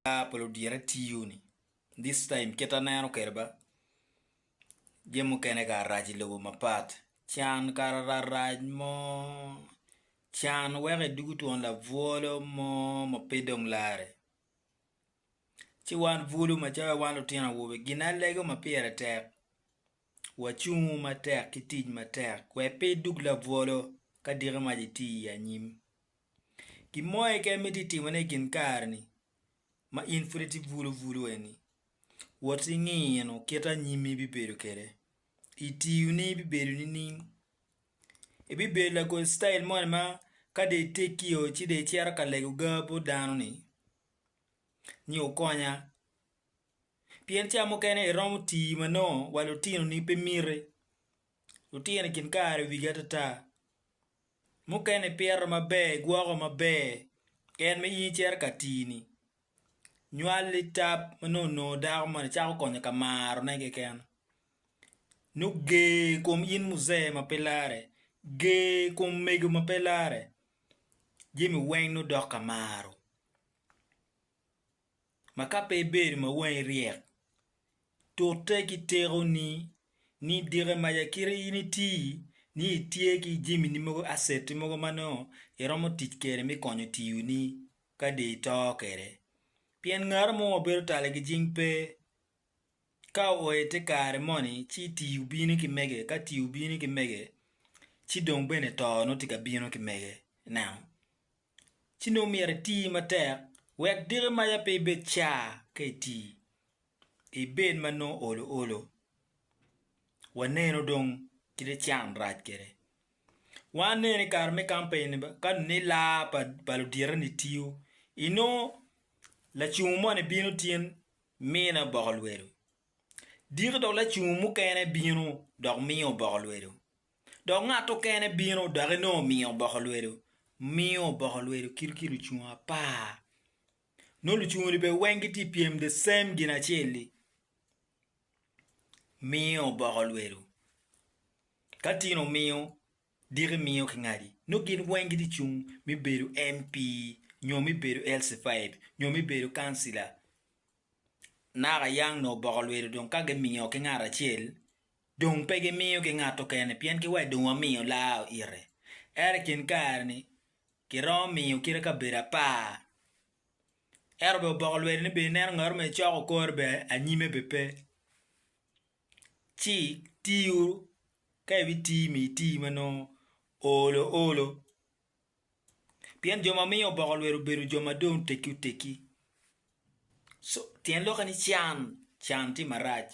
Ka pe ludyere tiyo ni this time kit aneno kwede ba jami mukene kara rac i lobo mapat can kara rarac mo can weko i dugu twon labwolo mo ma pe dong lare ci wan bulu macalo wan lutino awobe ginalego ma pire tek wacungu matek ki tic matek wek pe idug labwolo ka diki mac iti i anyim. Gin mo keken ma itye ka timone i kin kare-ni ma in pud itye bulubulu eni, wot inino kit anyim ma ibibedo kwede. I tiyoni bibedo nining? Ibibedo lagol citail moni ma ka dong itegio ci dong icito ka lego ga bot dano-ni ni wukonya? Pien ca mukene iromo tii ma nongo wa lutinoni pe miti, lutino i kin kare wigi atata. Mukene ipito maber, igwoko maber, en ma in icito ka tii-ni, nywali tab ma nongo onongo dako moni cako konyo ka marone keken. Nongo ger i kom in muzee ma pe lare, ger i kom mego ma pe lare, jami weng nongo dok ka maro. ma ka pe ibedo ma wangi ryek, tute ki tekoni, ni dike maca kite in iti ni itye ki jami mogo, asset mogo ma nongo iromo tic kwede me konyo tiyoni ka dong ito kwede. Pien ngat mo ma bedo tala ki jing pe. Ka oo i te kare moni ci tii obino ki mege, ka tii obino ki mege ci dong bene too nongo tye ka bino ki mege. Ineno? ci nongo myero iti matek wek diki maca pe ibed ca ka iti, ibed ma nongo olo olo. Waneno dong kite can rac kwede. Wan aneno i kare me kampen ka nongo ila pa luditeni tiyo, inongo lacungo moni bino tin mine oboko lwedo, diki dong lacungo mukene bino dok miyo oboko lwedo. Dok ngat okene bino dok enongo omiyo oboko lwedo, miyo oboko lwedo kit ki lucungu apar. Nongo lucungu-ni bene weng gitye ka pyem the same gin acel-li, miyo oboko lwedo. Ka tin omiyo, diki miyo kingadi. Nongo gin weng gitye ka cung me bedo MP nyo me bedo LC5 nyo me bedo kancila. Naka yang nongo oboko lwedo dong ka gimiyo ki ngat acel, Dong pe gimiyo ki ngat okene pien ki wadde wa miyo laa ite. Ento i kin kare-ni, ki romo miyo kite kabedo apar. Ento bene oboko lwedde ni bene ineno ngat ma icoko kore bene anyime bene pe. Ci ti uru, ka ibi ti mi iti ma nongo olo olo. Pien jo ma miyo oboko lwedo obedo jo ma dong oteggi oteggi. Tyen lokke ni can, can tye marac.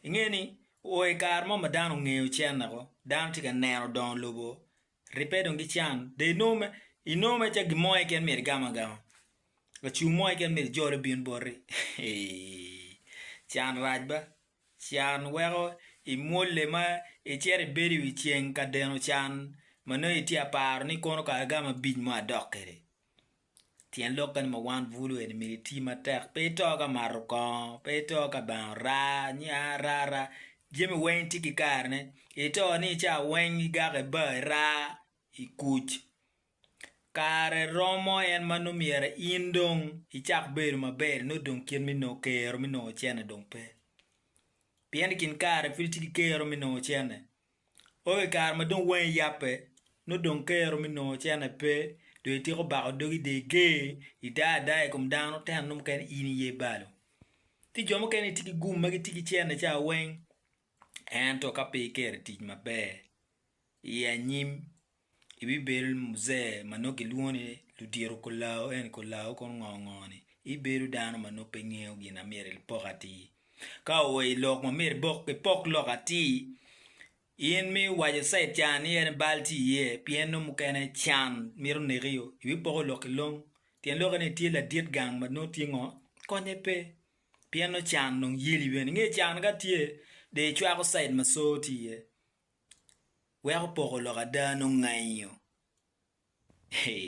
Inge ni o i kare mo ma dano ongeyo can woko, dano tye ka neno dongo lobo ribbe dong ki can dong inongo mere inongo mere calo gin mo keken myero igam agama, lacum mo keken myero ijole obin boti can rac ba. Can weko imwolle ma icito ibedo i wi ceng ka deno can ma nongo itye ka paro ni kono kara gamo abic mo adok kwede. Tyen lok kene ma one bulu eni myero iti matek. Pe ito ka mato kongo, pe ito ka bang ora, ni aa ara ara. Jami weng tye ki karene. Ito ni i cawa weng igake ba, ira, ikuc. Kare romo en ma nongo myero in dong icak bedo maber-ri nongo dong kit me nongo kero me nongo ocenne dong pe. Pien i kin kare pud itye ki kero me nongo ocenne. Onongo i kare ma dong wangi yabbe nongo dong kero me nongo ocenne pe dong ityeko bako dogi i dye ger, idaa adaa i kom dano ento nongo mukene in iye balo. Ci jo mukene gitye ki gum ma gitye ki cene ca weng ento ka pe ikero i tic maber i anyim Ibibedo Muzee ma nongo kilwongo ni Ludito Kolawo ento Kolawo kono ngo ngo ni? Ibedo dano ma nongo pe ngeyo gin ma myero ipok atir. Ka oa i lok ma myero ipok lok atir, in ma iwaco cait ca ni en aye bal tye iye pien nongo mukene can mito nekio, ibipoko lok ki long. Tyen lokke ni itye ladit gang ma nongo tye ngo? Konye pe pien nongo can dong yeli bene. Inge can ka tye dong icwako cait ma coo tye iye. weko poko lok ada nongo ngayo.